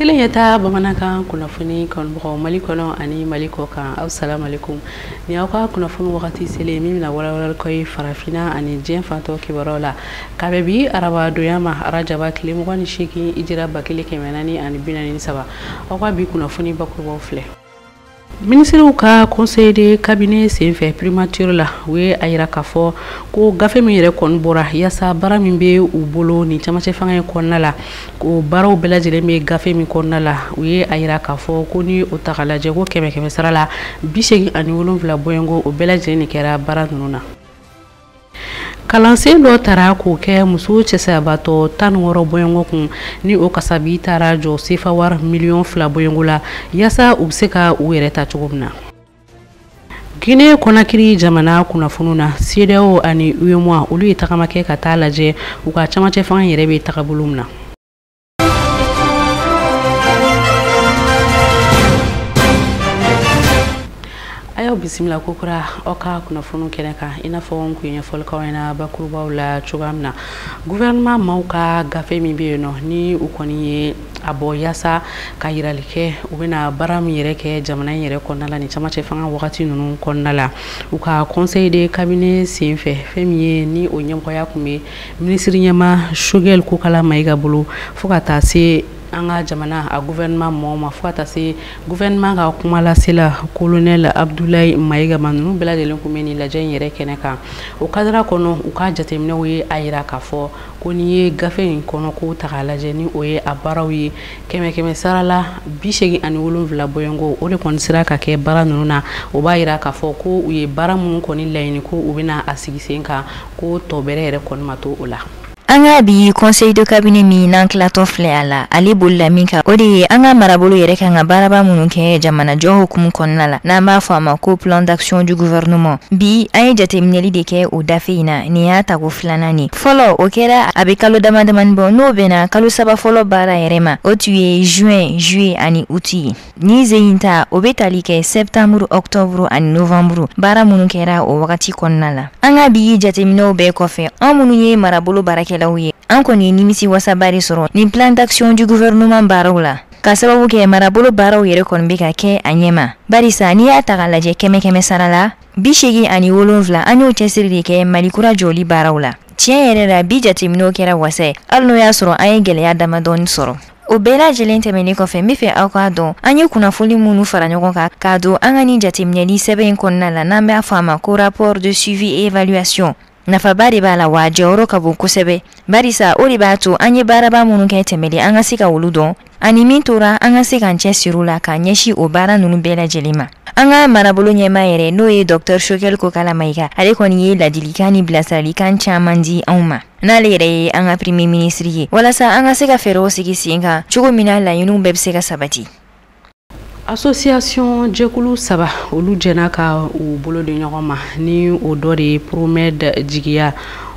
Tele Ɲɛtaa bamanankan kunnafoni kanubagaw mali kɔnɔ ani mali kɔ kan asalamu aleykum ni aw ka kunnafoni wagati selen min bɛna walawala k'aw ye farafinna ani diɲɛ fan tɔ kibaruw la ka bɛn bi arabadonya ma arajaba tile mugan ni seegin hijira ba kelen kɛmɛ naani ani bi naani ni saba aw ka bi kunnafoni bakurubaw filɛ minisiriw ka conseil de cabinet senfɛ primature la u ye a yira k'a fɔ ko gafe min yɛrɛ kɔni bɔra yaasa baara min bɛ u bolo nin camancɛ fanga in kɔnɔna la ko baaraw bɛɛ lajɛlen bɛ gafe min kɔnɔna la u ye a yira k'a fɔ ko ni o ta ka lajɛ ko kɛmɛ kɛmɛ sara la bi seegin ani wolonwula bɔɲɔgɔnko o bɛɛ lajɛlen de kɛra baara ninnu na kalansen dɔ tara k'o kɛ muso cɛsayabatɔ tan ni wɔɔrɔ bɔɲɔgɔnko kun ni o kasabi taara jɔ sefa wari miliyɔn fila bɔɲɔgɔnko la yaasa u bɛ se ka u yɛrɛ ta cogo min na guinee kɔnakiri jamana kunnafoniw na cedeao ani uemoa olu ye tagama kɛ ka taa lajɛ u ka camancɛ fanga yɛrɛ bɛ tagabolo min na an y'aw bisimila kokura aw ka kunnafoniw kɛnɛ kan i n'a fɔ n kun ye ɲɛfɔli k'aw ɲɛna bakurubaw la cogoya min na guvɛrɛnɛman maaw ka gafe min bɛ yen nɔ ni u kɔni ye a bɔ yaasa ka yirali kɛ u bɛna baara min yɛrɛ kɛ jamana in yɛrɛ kɔnɔna la ni camancɛ fanga wagati ninnu kɔnɔna la u ka conseil de cabinet senfɛ fɛn min ye ni o ɲɛmɔgɔya kun bɛ Minisiri ɲɛmaa Choguel Kokala Mayiga bolo fo ka taa se an ka jamana a guvɛrɛnɛman mɔgɔw ma fo ka taa se guvɛrɛnɛman ka kumalasela kolonɛl Abdulayi Mayiga ma ninnu bɛɛ lajɛlen kun bɛ nin lajɛ in yɛrɛ kɛnɛ kan o kadiri kɔnɔ u ka jateminɛw ye a yira k'a fɔ ko n'i ye gafe in kɔnɔko taa lajɛ ni o ye a baaraw ye kɛmɛ kɛmɛ sara la bi seegin ani wolonwula bɔɲɔgɔnko o de kɔni sera ka kɛ baara ninnu na o b'a yira k'a fɔ ko u ye baara minnu kɔni laɲini ko u bɛna a sigi sen kan ko tɔ bɛrɛ yɛrɛ kɔni ma to o la an ka bi conseil de cabinet min n'an tilatɔ filɛ a la ale bolila min kan o de ye an ka marabolo yɛrɛ kan ka baaraba minnu kɛ jamanajɔ hukumu kɔnɔna la n'an b'a fɔ a ma ko plan d'action du gouvernement bi an ye jateminɛli de kɛ o gafe in na nin y'a tako filanan ye fɔlɔ o kɛra a bɛ kalo damadamani bɔ n'o bɛnna kalo saba fɔlɔ baara yɛrɛ ma o tun ye juin juillet ani août ye Nin sen in ta o bɛ tali kɛ septembre octobre ani novembre baara minnu kɛra o wagati kɔnɔna la an ka bi jateminɛw bɛɛ kɔfɛ anw minnu ye marabolo baarakɛlaw ye an kɔni ye nimisiwasaba de sɔrɔ nin plan d'action du gouvernement baaraw la k'a sababu kɛ marabolo baaraw yɛrɛ kɔni bɛ ka kɛ a ɲɛ ma barisa n'i y'a taga lajɛ kɛmɛ kɛmɛ sara la bi seegin ani wolonwula an y'o cɛsiri de kɛ mali kura jɔli baaraw la tiɲɛ yɛrɛ la bi jateminɛw kɛra wasa ye hali n'o y'a sɔrɔ an ye gɛlɛya damadɔ sɔrɔ O bɛɛ lajɛlen tɛmɛnen kɔfɛ n bɛ fɛ aw k'a dɔn an ye kunnafoni minnu fara ɲɔgɔn kan k'a don an ka nin jateminɛli sɛbɛn in kɔnɔna la n'an b'a fɔ a ma ko rapport de suivi et évaluation nafaba de b'a la wa jɔyɔrɔ ka bon kosɛbɛ barisa o de b'a to an ye baaraba minnu kɛ tɛmɛlen an ka se ka olu dɔn ani min tora an ka se k'an cɛsiri la k'a ɲɛsin o baara ninnu bɛɛ lajɛlen ma an ka marabolo ɲɛmaa yɛrɛ n'o ye dɔktɛr choguel kokala mayiga ale kɔni ye ladilikan ni bilasiralikan caman di anw ma n'ale yɛrɛ ye an ka premier ministre ye walasa an ka se ka fɛɛrɛw sigi sen kan cogo min na laɲiniw bɛɛ bɛ se ka sabati association jɛkulu saba olu jɛnna ka u bolo di ɲɔgɔn ma ni o dɔ de ye promed jigiya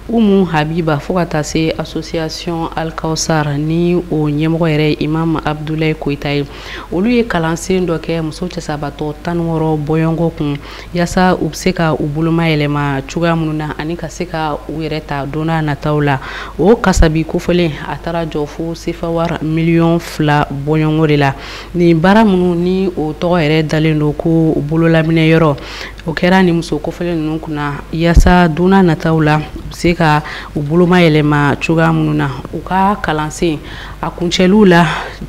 umu habiba fo ka taa se association alkausar ni o ɲɛmɔgɔ yɛrɛ imam abdulayi koyita ye olu ye kalansen dɔ kɛ muso cɛsabatɔ tan wɔɔrɔ bɔɲɔgɔnko kun yasa u bɛ se ka u boloma yɛlɛma cogoya minnu na ani ka se ka u yɛrɛ ta don nataw la o kasabi kofɔlen a taara jɔ fo sefawari miliyɔn fila bɔɲɔgɔnko de la nin baara minnu ni o tɔgɔ yɛrɛ dalen don ko bololaminɛ yɔrɔ o kɛra nin muso kofɔlen ninnu kunna yasa don nataw la u bɛ se ka u boloma yɛlɛma cogoya minnu na u ka kalansen A kuncɛliw la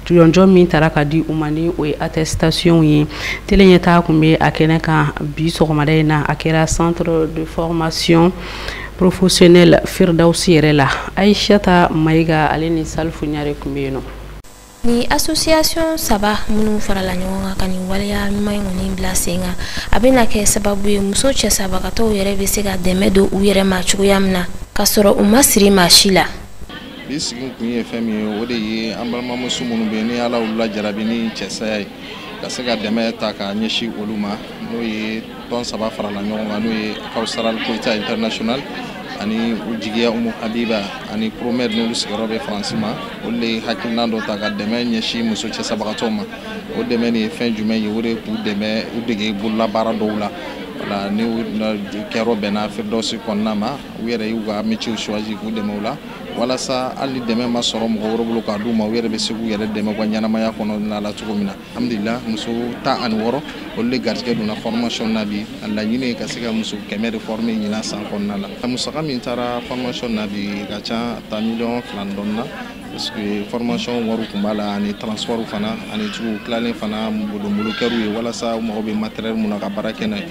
jɔnjɔn min taara ka di u ma ni o ye attestation ye tele ɲɛtaa kun bɛ a kɛnɛ kan bi sɔgɔmada in na a kɛra centre de formation professionnelle Firidawusi yɛrɛ la Ayisata Mayiga ale ni Salifu Ɲare kun bɛ yen nɔ. Ni association saba minnu farala ɲɔgɔn kan ka nin waleya ɲuman in kɔni bila sen kan a bɛna kɛ sababu ye muso cɛsabagatɔw yɛrɛ bɛ se ka dɛmɛ don u yɛrɛ ma cogoya min na ka sɔrɔ u ma siri maa si la. bi sigi kun ye fɛn min ye o de ye an balimamuso minnu bɛ yen ni ala y'olu lajarabi ni cɛsaya ye ka se ka dɛmɛ ta k'a ɲɛsin olu ma n'o ye tɔn saba farala ɲɔgɔn kan n'o ye kawusara koyita international ani u jigiya umu habiba ani promed n'olu sigiyɔrɔ bɛ faransi ma olu de ye hakilinan dɔ ta ka dɛmɛ ɲɛsin muso cɛsabagatɔw ma o dɛmɛ nin ye fɛn jumɛn ye o de k'u dɛmɛ u dege bololabaara dɔw la wale nin kɛyɔrɔ bɛnna firidawusi kɔnɔna ma u yɛrɛ y'u ka métier choisi k'u dɛmɛ o la walasa hali dɛmɛ ma sɔrɔ mɔgɔ wɛrɛ bolo k'a d'u ma u yɛrɛ bɛ se k'u yɛrɛ dɛmɛ u ka ɲɛnamaya kɔnɔna la cogo min na alhamdulila muso tan ani wɔɔrɔ olu de garijɛgɛ donna formation na bi a laɲini ye ka se ka muso kɛmɛ de former ɲinan san kɔnɔna la a musaka min taara formation na bi ka ca a ta miliyɔn fila ni dɔɔnin na parce que formation wariw tun b'a la ani transport fana ani cogo tilalen fana bolomolokɛriw ye walasa u mago bɛ matériel min na ka baara kɛ n'a ye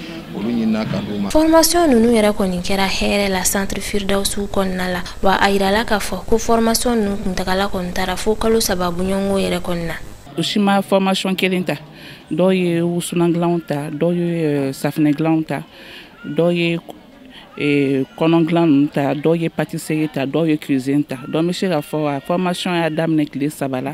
Formation ninnu yɛrɛ kɔni kɛra hɛrɛ la centre Firidawusu kɔnɔna la wa a jirala k'a fɔ ko formation ninnu kuntagala kɔni taara fo kalo saba bɔɲɔgɔnko yɛrɛ kɔni na. U si ma formation kelen ta dɔw ye wusulan dilanw ta dɔw ye euh, safinɛ dilanw ta dɔw ye euh, kɔnɔn dilan ninnu ta dɔw ye pâtisserie ta dɔw ye cuisine ta donc n bɛ se k'a fɔ a formation y'a daminɛ tile saba la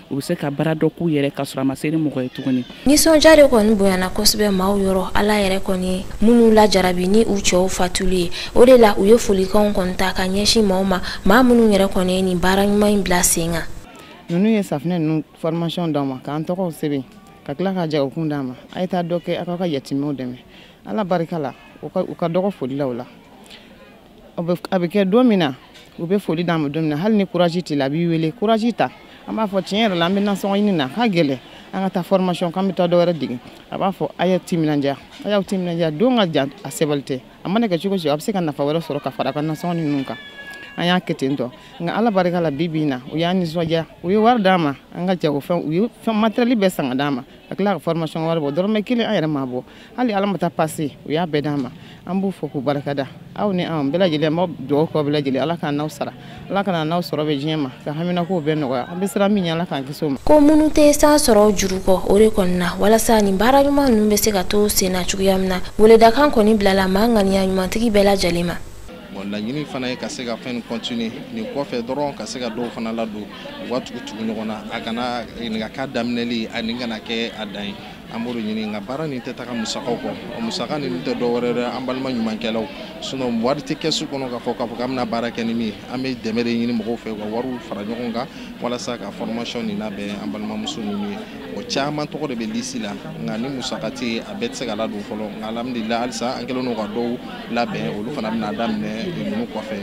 u bɛ se ka baara dɔ k'u yɛrɛ k'a sɔrɔ a ma se ni mɔgɔ ye tuguni nisɔndiya de kɔni bonyana kosɛbɛ maaw yɔrɔ ala yɛrɛ kɔni minnu lajarabi ni u cɛw fatuli ye o de la u ye folikanw kɔni ta ka ɲɛsin maaw ma maa minnu yɛrɛ kɔni ye nin baara ɲuman in bila sen kan ninnu ye safinɛ ninnu formation d'an ma k'an tɔgɔw sɛbɛn ka tila ka jagokun d'an ma a ye taa dɔ kɛ aw ka yatimɛw dɛmɛ ala barika la u ka dɔgɔ foli la o la a bɛ kɛ don min na u bɛ foli d'an ma don min na hali ni courage t'i la a b'i wele courage ta an b'a fɔ tiɲɛ yɛrɛ la an bɛ nasɔngɔ ɲini na a ka gɛlɛn an ka taa formation k'an bɛ taa dɔ wɛrɛ dege a b'a fɔ a y'aw timinandiya a y'aw timinandiya don ka jan a sebali tɛ a mana kɛ cogo o cogo a bɛ se ka nafa wɛrɛ sɔrɔ ka fara a ka nasɔngɔ ninnu kan an y'a kɛ ten tɔ nka ala barika la bi bi in na u y'an nisɔndiya u ye wari d'an ma an ka jagofɛn u ye fɛn matériel bɛɛ san k'a d'an ma ka tila ka formation wari bɔ dɔrɔmɛ kelen an yɛrɛ m'a bɔ hali ala ma taa pase u y'a bɛɛ d'an ma an b'u fo k'u barika da aw ni an bɛɛ lajɛlen an bɛ dugawu k'aw bɛɛ lajɛlen ala k'an n'aw sara ala k'an n'aw sɔrɔ bɛ diɲɛ ma ka haminakow bɛɛ nɔgɔya an bɛ siran min ɲɛ ala k'an kisi o ma ko minnu tɛ san sɔrɔ juru kɔ o de kɔni na walasa nin baara ɲuman ninnu bɛ se ka to sen na cogoya min na weledakan kɔni bilala maa ŋaniya ɲumantigi bɛɛ lajɛlen ma laɲini fana ye ka se ka fɛn nin continuer nin kɔfɛ dɔrɔn ka se ka dɔw fana ladon u ka tugu tugu ɲɔgɔn na a kana nin kana k'a daminɛli ani kana kɛ a dan ye an b'o de ɲini nka baara nin tɛ taga musakaw kɔ o musaka ninnu tɛ dɔ wɛrɛ dɛ an balima ɲumankɛlaw sinon wari tɛ kɛsu kɔnɔ k'a fɔ k'a fɔ k'an bɛna baara kɛ ni min ye an bɛ dɛmɛ de ɲini mɔgɔw fɛ u ka wariw fara ɲɔgɔn kan walasa ka formation nin labɛn an balimamuso ninnu ye o caman tɔgɔ de bɛ lisi la nka ni musaka tɛ yen a bɛɛ tɛ se ka ladon fɔlɔ nka alhamdulilayi halisa an kɛlen don ka dɔw labɛn olu fana bɛna daminɛ ninnu kɔfɛ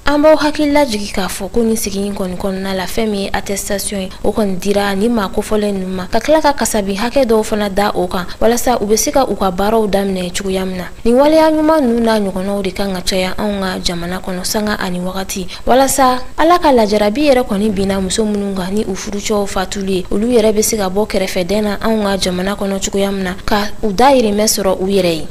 an b'aw hakili lajigin k'a fɔ ko nin sigi in kɔni kɔnɔna la fɛn min ye attestation ye o kɔni dira nin maa kofɔlen ninnu ma ka tila ka kasabi hakɛ dɔw fana da o kan walasa u bɛ se ka u ka baaraw daminɛ cogoya min na nin waleya ɲuman ninnu n'a ɲɔgɔnnaw de kan ka caya anw ka jamana kɔnɔ sanga ani wagati walasa ala ka lajarabi yɛrɛ kɔni binna muso minnu kan ni u furucɛw fatuli ye olu yɛrɛ bɛ se ka bɔ kɛrɛfɛdɛn na anw ka jamana kɔnɔ cogoya min na ka u dayirimɛ sɔrɔ u yɛrɛ ye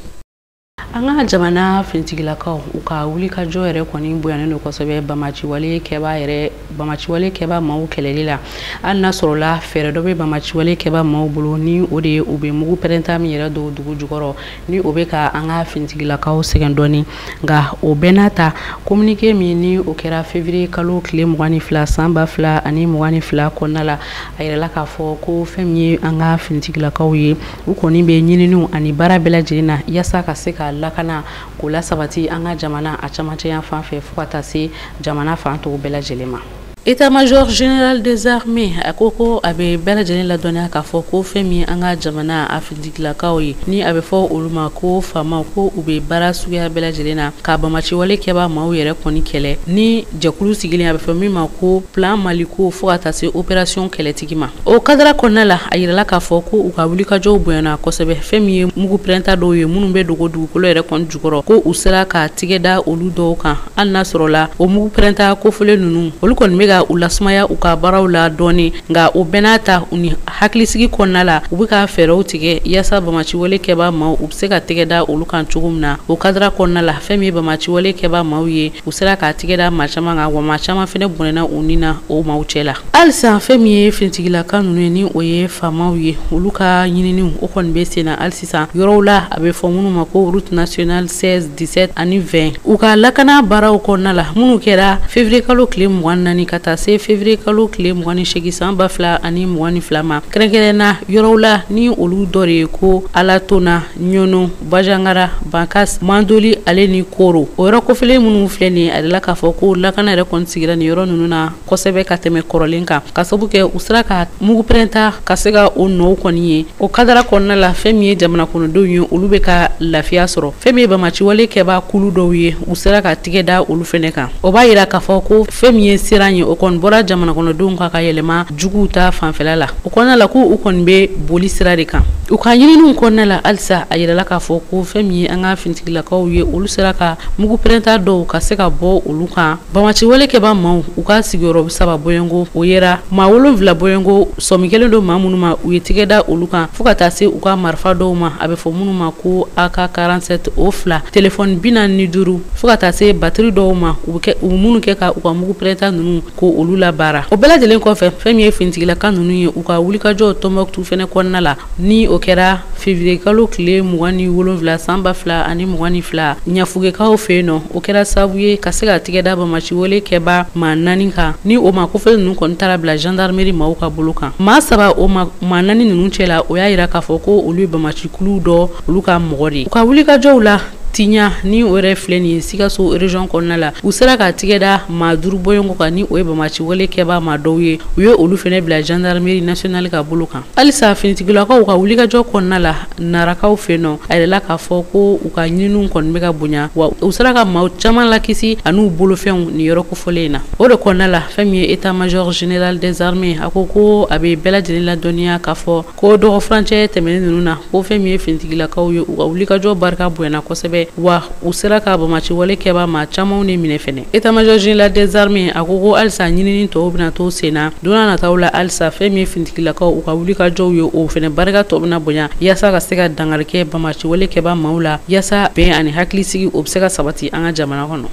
an ka jamana finitigilakaw u ka wulikajɔ yɛrɛ kɔni bonyanen don kosɛbɛ bamaciwale kɛba yɛrɛ bamaciwale kɛba maaw kɛlɛli la hali n'a sɔrɔla fɛɛrɛ dɔ bɛ bamaciwale kɛba maaw bolo ni o de ye u bɛ mugu pɛrɛnta min yɛrɛ don dugu jukɔrɔ ni o bɛ ka an ka finitigilakaw sɛgɛn dɔɔni nka o bɛɛ n'a ta kominike min ni o kɛra fevriye kalo tile mugan ni fila san ba fila ani mugan ni fila kɔnɔna la a yirala k'a fɔ ko fɛn min ye an ka finitigilakaw ye u kɔni bɛ ɲininiw ani baara bɛɛ lajɛlen na yasa ka se ka lakana k'o lasabati an ka jamana a camancɛya fan fɛ fo ka taa se jamana fan tɔw bɛɛ lajɛlen ma État-major général des armées a ko ko a bɛ bɛɛ lajɛlen ladɔnniya k'a fɔ ko fɛn min an ka jamana a finitigilakaw ye ni a bɛ fɔ olu ma ko faamaw ko u bɛ baara suguya bɛɛ lajɛlen na ka bamaciwale kɛbaa maaw yɛrɛ kɔni kɛlɛ ni jɛkulu sigilen a bɛ fɔ min ma ko plan maliko fo ka taa se opération kɛlɛti o kadara kɔnɔna la a yirala k'a fɔ ko u ka wulikajɔw bonyana kosɛbɛ fɛn min ye mugu pɛrɛnta dɔw ye minnu bɛ dogo dugukolo yɛrɛ kɔni jukɔrɔ ko u sera ka tigɛ da olu dɔw kan hali n'a sɔrɔla o mugu pɛrɛnta kofɔlen ninnu olu kɔni bɛ ka u lasumaya u ka baaraw la dɔɔnin nka o bɛɛ n'a ta u ni hakilisigi kɔnɔna la u bɛ ka fɛɛrɛw tigɛ yaasa bamaciwale kɛbaa maaw u bɛ se ka tɛgɛ da olu kan cogo min na o kadara kɔnɔna la fɛn min ye bamaciwale kɛbaa maaw ye u sera ka tigɛ da maa caman kan wa maa caman fɛnɛ bɔnɛna u ni na o maaw cɛ la halisa fɛn min ye finitigilaka ninnu ye ni o ye faamaw ye olu ka ɲininiw o kɔni bɛ sen na hali sisan yɔrɔw la a bɛ fɔ minnu ma ko route nationale 16 17 ani 20 u ka lakana baaraw kɔnɔna la minnu kɛra février kalo tile mugan ni naani ka taa se février kalo tile mugan ni seegin san ba fila ani mugan ni fila ma kɛrɛnkɛrɛnna yɔrɔw la ni olu dɔ de ye ko alatona Ɲɔnɔ bajangara bankas mandoli ale ni koro o yɔrɔ kofɔlen minnu filɛ nin ye a la k'a fɔ ko lakana yɛrɛ kɔni sigira nin yɔrɔ ninnu na kosɛbɛ ka tɛmɛ kɔrɔlen kan k'a sabu kɛ u sera ka mugupɛrɛnta ka se ka o nɔw kɔni ye o kadara kɔnɔna la fɛn min ye jamana kɔnɔdenw ye olu bɛ ka lafiya sɔrɔ fɛn min ye bamaciwale kɛbaa kulu dɔw ye u sera ka tɛgɛ da olu fɛnɛ kan o b'a yira k'a fɔ ko fɛn min ye siran ye o kɔni bɔra jamana kɔnɔdenw kan ka yɛlɛma juguw ta fanfɛla la o kɔnɔna la ko u kɔni bɛ boli sira de kan U ka ɲininiw kɔnɔna la halisa a yirala k'a fɔ ko fɛn min ye an ka finitigilakaw ye olu sera ka mugu pɛrɛnta dɔw ka se ka bɔ olu kan bamaciwale kɛba maaw u ka sigiyɔrɔ saba bɔyɔngo o yera maa wolonwula bɔyɔngo sɔmi kelen don maa minnu ma u ye tɛgɛ da olu kan fo ka taa se u ka marifa dɔw ma a bɛ fɔ minnu ma ko AK47 o fila telefɔni bi naani ni duuru fo ka taa se batiri dɔw ma u minnu kɛ ka u ka mugu pɛrɛnta ninnu ko olu la baara o bɛɛ lajɛlen kɔfɛ fɛn min ye finitigilaka ninnu ye u ka wulikajɔ Tombouctou fɛnɛ kɔnɔna la ni o kɛra février kalo tile mugan ni wolonfila san ba fila ani mugan ni fila ɲafunkekaw fɛ yen nɔ o kɛra sababu ye ka se ka tigɛ da bamaci wale kɛbaa maa naani kan ni o maa kofɔlen ninnu kɔni taara bila gendarmerie maaw ka bolo kan maa saba o ma maa naani ninnu cɛla o y'a yira k'a fɔ ko olu ye bamaci kuluw dɔ olu ka mɔgɔ de ye u ka wulikajɔw la tiɲa ni o yɛrɛ filɛ nin ye sikaso région kɔnɔna la u sera ka tigɛ da maa duuru bɔɲɔgɔnko kan ni o ye bamaci wale kɛbaa maa dɔw ye u ye olu fɛnɛ bila gendarmerie nationale ka bolo kan halisa finitigilakaw ka wulikajɔ kɔnɔna la narakaw fɛ yen nɔ a yirala k'a fɔ ko u ka ɲininiw kɔni bɛ ka bonya wa u sera ka maa caman lakisi an'u bolofɛnw nin yɔrɔ kofɔlen in na o de kɔnɔna la fɛn min ye état major général des armées a ko ko a bɛ bɛɛ lajɛlen ladɔnniya k'a fɔ Ko dɔgɔ furancɛ tɛmɛnen ninnu na ko fɛn min ye finitigilakaw ye u ka wulikajɔ barika bonyana kosɛbɛ wa u sera ka bamaci wale kɛba maa camanw ni minɛ fɛnɛ état major général des armées a ko ko halisa ɲinini tɔw bɛ na to sen na don nataw la halisa fɛn min ye finitigilakaw u ka wulikajɔw ye o fɛnɛ barika tɔ bɛ na bonya yaasa ka se ka dankari kɛ bamaci wale kɛba maaw la yaasa bɛn ani hakilisigi o bɛ se ka sabati an ka jamana kɔnɔ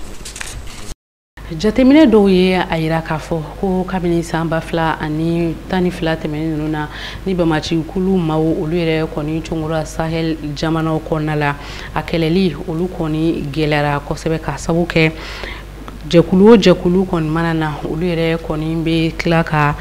jateminɛ dɔw ye a yira k'a fɔ ko kabini san ba fila ani tan ni fila tɛmɛnen ninnu na ni bamaci kulu maaw olu yɛrɛ kɔni congora sahel jamanaw kɔnɔna la a kɛlɛli olu kɔni gɛlɛyara kosɛbɛ ka sabu kɛ jɛkulu o jɛkulu kɔni mana na olu yɛrɛ kɔni bɛ tila ka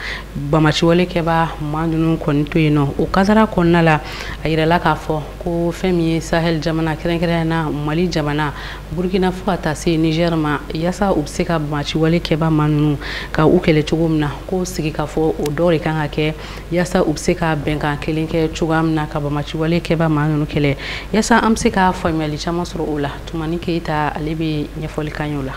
bamaciwale kɛba maa ninnu kɔni to yen nɔ o kadara kɔnɔna la a yirala k'a fɔ ko fɛn min ye sahel jamana kɛrɛnkɛrɛnnenya la mali jamana Burukina fo ka taa se Niger ma yasa u bɛ se ka bamaciwale kɛba maa ninnu ka u kɛlɛ cogo min na ko sigikafɔ o dɔ de kan ka kɛ yasa u bɛ se ka bɛnkan kelen kɛ cogoya min na ka bamaciwale kɛba maa ninnu kɛlɛ yasa an bɛ se ka faamuyali caman sɔrɔ o la Tumani Keyita ale bɛ ɲɛfɔli k'an ye o la.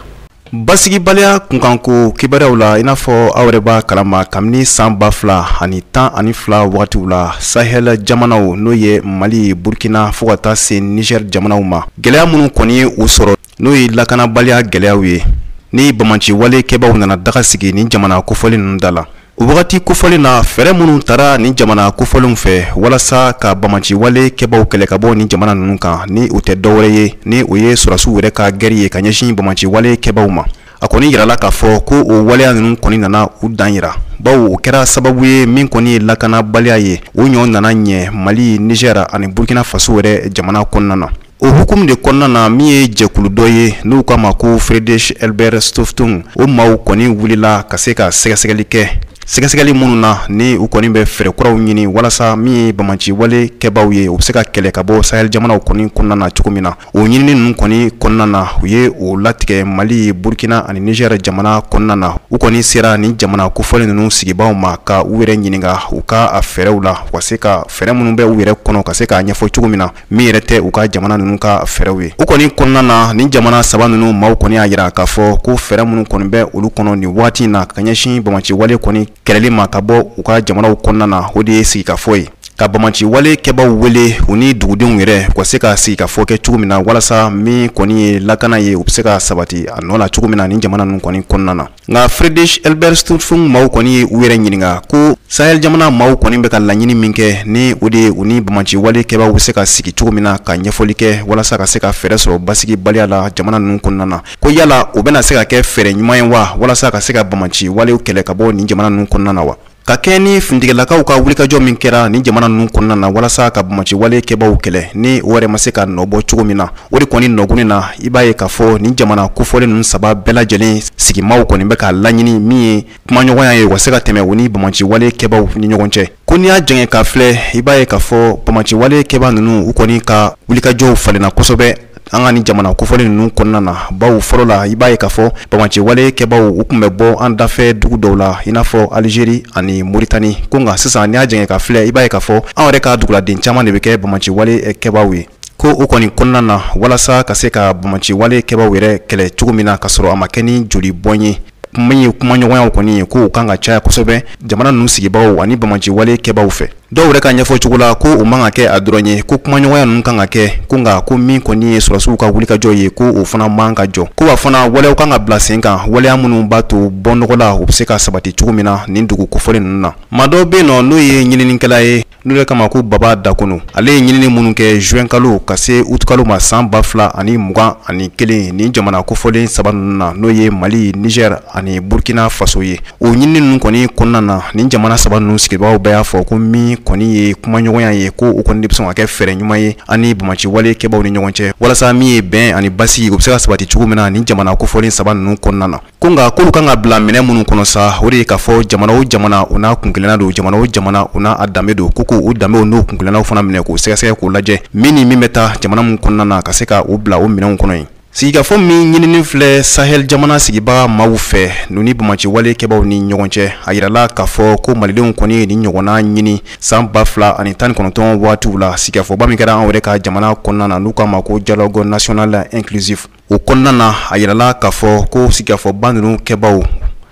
basigibaliya kunkanko kibaruyaw la i n'a fɔ aw yɛrɛ b'a kalama kabini san ba fila ani tan ani fila wagatiw la sahɛl jamanaw n'o ye mali burkina fo ka taa se niger jamanaw ma gwɛlɛya minnu kɔni ye u sɔrɔ n'o ye lakanabaliya gwɛlɛyaw ye ni bamaciwale kɛbaaw nana daga sigi nin jamana kofɔlen ninnu da la O wagati kofɔlen na fɛɛrɛ minnu tara nin jamana kofɔlenw fɛ walasa ka bamaciwale kɛbaaw kɛlɛ ka bɔ nin jamana ninnu kan ni u tɛ dɔwɛrɛ ye ni o ye sɔrasiw yɛrɛ ka gɛri ye ka ɲɛsin bamaciwale kɛbaaw ma a kɔni yirala k'a fɔ ko o waleya ninnu kɔni nana u dan yira baw o kɛra sababu ye min kɔni ye lakanabaliya ye o ɲɔ nana ɲɛ mali niger ani burukina faso yɛrɛ jamana kɔnɔna na O hukumu de kɔnɔna na min ye jɛkulu dɔ ye n'u k'a ma ko Friedrich Ebert Stiftung o maaw kɔni wulila ka se ka sɛgɛsɛgɛli kɛ sɛgɛsɛgɛli minnu na ni u kɔni bɛ fɛɛrɛ kuraw ɲini walasa min ye bamaciwale kɛbaaw ye u bɛ se ka kɛlɛ ka bɔ sahel jamanaw kɔni kɔnɔna na cogo min na o ɲinini ninnu kɔni kɔnɔna na u ye o latigɛ mali burkina ani niger jamana kɔnɔna na u kɔni sera nin jamana kofɔlen ninnu sigibaaw ma ka u yɛrɛ ɲininka u ka a fɛɛrɛw la ka se ka fɛɛrɛ minnu bɛ u yɛrɛ kɔnɔ ka se k'a ɲɛfɔ cogo min na min yɛrɛ tɛ u ka jamana ninnu ka fɛɛrɛw ye u kɔni kɔnɔna na ni jamana saba ninnu maaw kɔni y'a yira k'a fɔ ko fɛɛrɛ minnu kɔni bɛ olu kɔnɔ nin waati in na ka ɲɛsin bamaciwale kɔni kɛlɛli ma ka bɔ u ka jamanaw kɔnɔna na o de ye sigikafɔ ye ka bamaciwale kɛbaw wele u ni dugudenw yɛrɛ u ka se ka sigikafɔ kɛ cogo min na walasa min kɔni ye lakana ye u bɛ se ka sabati a nɔ la cogo min na ni jamana ninnu kɔni kɔnɔna na nka Friedrich Ebert Stiftung maaw kɔni ye u yɛrɛ ɲininka ko sahel jamana maaw kɔni bɛ ka laɲini min kɛ ni o de ye u ni bamaciwale kɛbaaw bɛ se ka sigi cogo min na ka ɲɛfɔli kɛ walasa ka se ka fɛɛrɛ sɔrɔ basigibaliya la jamana ninnu kɔnɔna na ko yala o bɛna se ka kɛ fɛɛrɛ ɲuman ye wa walasa ka se ka bamaciwalew kɛlɛ ka bɔ nin jamana ninnu kɔnɔna na wa ka kɛɲɛ ni finitigilakaw ka wulikajɔ min kɛra nin jamana ninnu kɔnɔna na walasa ka bamaciwale kɛbaaw kɛlɛ ni o yɛrɛ ma se ka nɔ bɔ cogo min na o de kɔni nɔguni na i b'a ye k'a fɔ nin jamana kofɔlen ninnu saba bɛɛ lajɛlen sigimaw kɔni bɛ k'a laɲini min ye kumaɲɔgɔnya ye u ka se ka tɛmɛ u ni bamaciwale kɛbaaw ni ɲɔgɔn cɛ ko n'i y'a jɛngɛ k'a filɛ i b'a ye k'a fɔ bamaciwale kɛbaa ninnu u kɔni ka wulikajɔw falenna kosɛbɛ an ka ni jamana kofɔlen ninnu kɔnɔna na baw fɔlɔ la i b'a ye k'a fɔ bamaciwale kɛbaw u tun bɛ bɔ an dafɛ dugu dɔw la i n'a fɔ alizeri ani moritani ko nka sisan n'i y'a jɛngɛ ka filɛ i b'a ye k'a fɔ an yɛrɛ ka duguladen caman de bɛ kɛ bamaciwale kɛbaw ye ko o kɔni kɔnɔna na walasa ka se ka bamaciwale kɛbaw yɛrɛ kɛlɛ cogo min na ka sɔrɔ a ma kɛ ni joli bɔn ye min ye kumaɲɔgɔnyaw kɔni ye k'o kan ka caya kosɛbɛ jamana ninnu sigibaaw ani bamaciwale kɛbaw fɛ dɔw yɛrɛ ka ɲɛfɔ cogo la ko o man ka kɛ a dɔrɔn ye ko kumaɲɔgɔnya ninnu kan ka kɛ ko nka ko min kɔni ye sɔrɔdasiw ka wulikajɔ ye ko o fana man ka jɔ ko wa fana waleyaw kan ka bila sen kan waleya minnu b'a to bɔnɔgɔla u bɛ se ka sabati cogo min na nin dugu kofɔlen ninnu na maa dɔ bɛ yen nɔ n'o ye ɲininikɛla ye n'o de k'a ma ko baba dakono ale ye ɲinini minnu kɛ juin kalo ka se utukalo ma san ba fila ani mugan ani kelen nin jamana kofɔlen saba ninnu na n'o ye mali niger ani burkina faso ye o ɲinini ninnu kɔni kɔnɔna na nin jamana saba ninnu sigibaaw bɛɛ y'a fɔ ko min kɔni ye kumaɲɔgɔnya ye ko o kɔni de bɛ sɔn ka kɛ fɛɛrɛ ɲuman ye an ni bamaci wale kɛbaaw ni ɲɔgɔn cɛ walasa min ye bɛn ani basigi o bɛ se ka sabati cogo min na nin jamana kofɔlen saba ninnu kɔnɔna na ko nka k'olu kan ka bila minɛn minnu kɔnɔ sa o de ye k'a fɔ jamana o jamana u n'a kunkelenna don jamana o jamana u n'a danbe don ko k'o danbew n'o kunkelennaw fana minɛ k'o sɛgɛsɛgɛ k'o lajɛ min ni min bɛ taa jamana min kɔnɔna na ka se ka o bila o minɛnw kɔnɔ yen sigikafɔ min ɲinini filɛ sahel jamana sigibaga maaw fɛ n'u ni bamaci wale kɛbaw ni ɲɔgɔn cɛ a yirala k'a fɔ ko malidenw kɔni ye nin ɲɔgɔnna ɲini san ba fila ani tan ni kɔnɔntɔn waatiw la sigikafɔba min kɛra an yɛrɛ ka jamana kɔnɔna na n'u k'a ma ko dialogue national inclusif o kɔnɔna na a yirala k'a fɔ ko sigikafɔba ninnu kɛbaw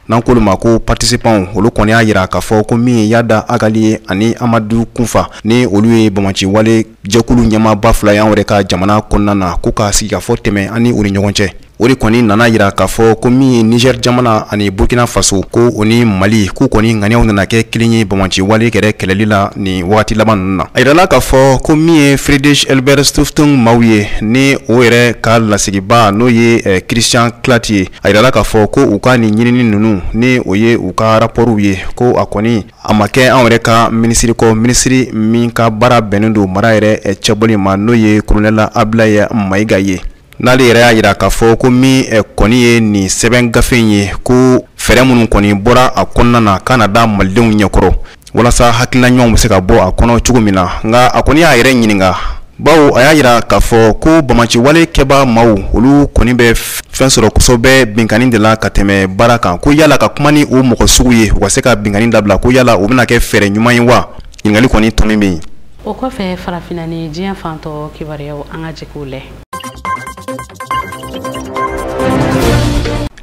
n'an k'olu ma ko patisipanw olu kɔni y'a yira k'a fɔ ko min ye yada agali ye ani amadu kunfa ni olu ye bamaci wale jɛkulu ɲɛmaaba fila y'an yɛrɛ ka jamana kɔnɔna na ko ka sigikafɔ tɛmɛ ani u ni ɲɔgɔn cɛ o de kɔni nana yira k'a fɔ ko min ye nizɛri jamana ani burkina faso ko o ni mali k'u kɔni ŋaniyaw nana kɛ kelen ye bamaci wale yɛrɛ kɛlɛli la nin wagati laban ninnu na a yirala k'a fɔ ko min ye friedrich ebert stiftung maaw ye ni o yɛrɛ ka lasigibaa n'o ye eh, christian klatt ye a yirala k'a fɔ ko u ka nin ɲinini ninnu ni o ye u ka rapɔriw ye ko a kɔni A ma kɛ an yɛrɛ ka minisiri kɔ minisiri min ka baara bɛnnen don mara yɛrɛ cɛbɔli ma n'o ye kolonɛli Abdulaye Mayiga ye n'ale yɛrɛ y'a yira k'a fɔ ko min kɔni ye nin sɛbɛn gafe in ye ko fɛɛrɛ minnu kɔni bɔra a kɔnɔna na ka n'a da malidenw ɲɛkɔrɔ walasa hakilina ɲumanw bɛ se ka bɔ a kɔnɔ cogo min na nka a kɔni y'a yɛrɛ ɲininka Baw a y'a yira k'a fɔ ko bamaci wale kɛba maaw olu kɔni bɛ fɛn sɔrɔ kosɛbɛ binkanni de la ka tɛmɛ baara kan ko yala ka kuma ni o mɔgɔ sugu ye u ka se ka binkanni dabila ko yala o bɛna kɛ fɛɛrɛ ɲuman ye wa ɲininkali kɔni tomi bɛ yen o kɔfɛ farafinna ni diɲɛ fan tɔ kibaruyaw an ka jɛ k'u lajɛ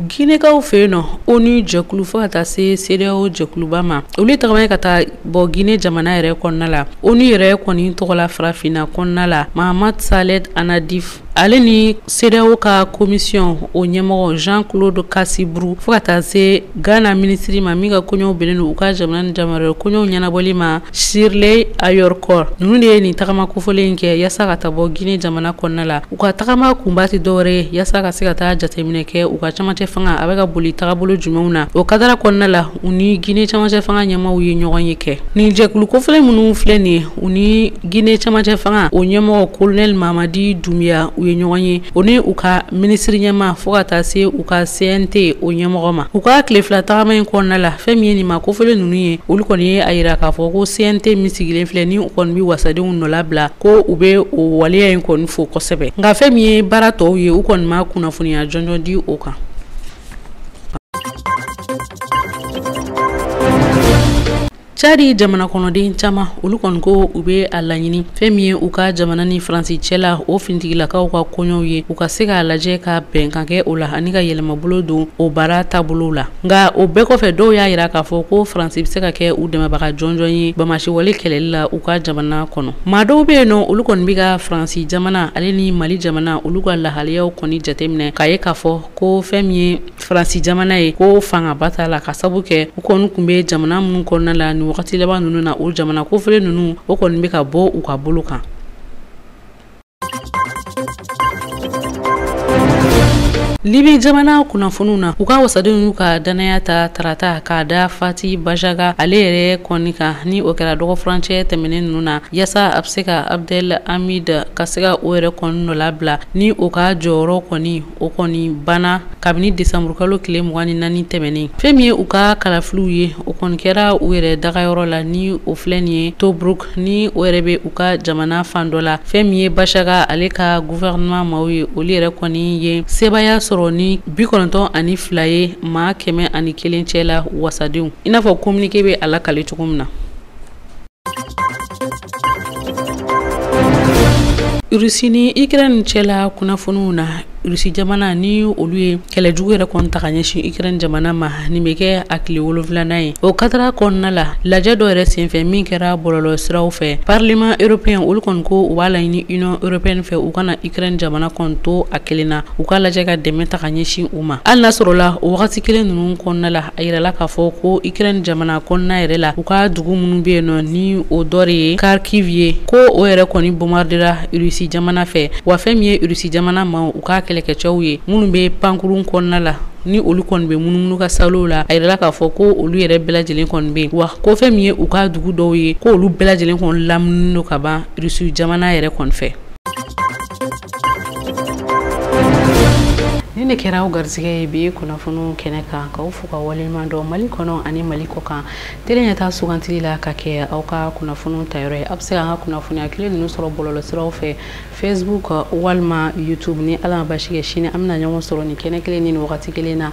ginekaw fɛ yen nɔ ONU jɛkulu fo ka taa se CEDEAO jɛkuluba ma olu tagamana ka taa Bɔ Guinee jamana yɛrɛ kɔnɔna la, ONU yɛrɛ kɔni tɔgɔ la farafinna kɔnɔna la, Mahamat Saleh Annadif, ale ni CEDEAO ka commission o ɲɛmɔgɔ Jean Claude Kassi Brou fo ka taa se Ghana minisiri ma min ka koɲɔw bɛnnen don u ka jamana ni jamana wɛrɛ koɲɔw ɲɛnabɔli ma Shirley Ayorkor, ninnu de ye nin tagama kofɔlen in kɛ yasa ka taa bɔ Guinee jamana kɔnɔna la. U ka tagama kunba tɛ dɔwɛrɛ ye yasa ka se ka taa jateminɛ kɛ u ka camancɛ fanga a bɛ ka boli tagabolo jumɛnw na o kadara kɔnɔna la. u ni gine camancɛ fanga ɲɛmaaw ye ɲɔgɔnye kɛ nin jɛkulu kofɔlen minnu filɛ nin ye u ni gine camancɛ fanga o ɲɛmɔgɔ kolonɛli mamadi dumbuya u ye ɲɔgɔn ye o ni u ka minisiri ɲɛmaa fɔɔ ka taa se u ka cnt o ɲɛmɔgɔ ma u ka tile fila tagama in kɔnɔna la fɛn min ye nin maa kofɔlen ninnu ye olu kɔni ye a yira k'a fɔ ko cnt min sigilen filɛ ni u kɔni be wasadenw nɔlabila ko u be o waleya in kɔni fo kosɛbɛ nka fɛn min ye baara tɔw ye u kɔni ma kunnafoniya jɔnjɔn di o kan cadi jamana kɔnɔden caman olu kɔni ko u be a laɲini fɛɛn min ye u ka jamana ni faransi cɛla o finitigilakaw ka koɲɔw ye u ka se k'a lajɛ ka bɛnkan kɛ o la ani ka yɛlɛmabolo don o baara taabolow la nka o bɛɛ kɔfɛ dɔw y'a yira k'a fɔ ko faransi be se ka kɛ u dɛmɛbaga jɔnjɔn ye bamasiwale kɛlɛli la u ka jamana kɔnɔ maa dɔw be yen nɔ olu kɔni be ka faransi jamana ale ni mali jamana olu ka lahaliyaw kɔni jateminɛ k'a ye k'a fɔ ko fɛn min ye faransi jamana ye ko fangaba t'a la ka sabu kɛ u kɔni tun bɛ jamana minnu kɔnɔna la ni wagati laban ninnu na o jamana kofɔlen ninnu o kɔni bɛ ka bɔ u ka bolo kan libi jamana kunnafoniw na u ka wasadenw y'u ka dannaya ta tarata k'a da fati bajaga ale yɛrɛ kɔni kan ni o kɛra dɔgɔfurancɛ tɛmɛnen ninnu na yasa a bɛ se ka abdel amid ka se ka o yɛrɛ kɔni nɔ labila ni o ka jɔyɔrɔ kɔni o kɔni banna kabini desanburukalo tile mugan ni naani tɛmɛnen fɛn min ye u ka kalafiliw ye o kɔni kɛra u yɛrɛ dagayɔrɔ la ni o filɛ nin ye tobruk ni o yɛrɛ bɛ u ka jamana fan dɔ la fɛn min ye basaga ale ka gouvernement maaw ye olu yɛrɛ kɔni ye sebaaya sɔrɔ ni bi kɔnɔntɔn ani fila ye maa kɛmɛ ani kelen cɛ la wasadenw i n'a fɔ kominike bɛ a lakale cogo min na Rusi ni ukraine cɛla kunnafoniw na rusi jamana ni olu ye kɛlɛ jugu yɛrɛ kɔni ta ka ɲɛsin ukraine jamana ma nin bɛ kɛ a tile wolonfilanan ye o katara kɔnɔna la lajɛ dɔ yɛrɛ senfɛ min kɛra bɔlɔlɔsiraw fɛ parlement européen olu kɔni ko u b'a laɲini union européenne fɛ u kana ukraine jamana kɔni to a kelen na u ka lajɛ ka dɛmɛ ta ka ɲɛsin u ma hali n'a sɔrɔla o wagati kelen ninnu kɔnɔna la A yirala k'a fɔ ko ukraine jamana kɔnɔna yɛrɛ la u ka dugu minnu bɛ yen nɔ ni o dɔ de ye kharkiv ye ko o yɛrɛ kɔni bombardera rusi jamana fɛ wa fɛn min ye rusi jamana maaw u ka kɛlɛkɛcɛw ye minnu bɛ pankurun kɔnɔna la ni olu kɔni bɛ munumunu ka salo la a yirala k'a fɔ ko olu yɛrɛ bɛɛ lajɛlen kɔni bɛ yen wa ko fɛn min ye u ka dugu dɔw ye ko olu bɛɛ lajɛlen kɔni lamininen don ka ban rusi jamana yɛrɛ kɔni ni ne kɛra aw garisɛgɛ ye bi kunnafoniw kɛnɛ kan k'aw fo ka waleɲuman dɔn mali kɔnɔ ani mali kɔ kan tele ɲɛtaa sugantili la ka kɛ aw ka kunnafoniw tayɔrɔ ye aw bɛ se k'an ka kunnafoniya kelen ninnu sɔrɔ bɔlɔlɔsiraw fɛ facebook walima youtube ni ala ma basi kɛ sini an bɛna ɲɔgɔn sɔrɔ nin kɛnɛ kelen ni nin wagati kelen na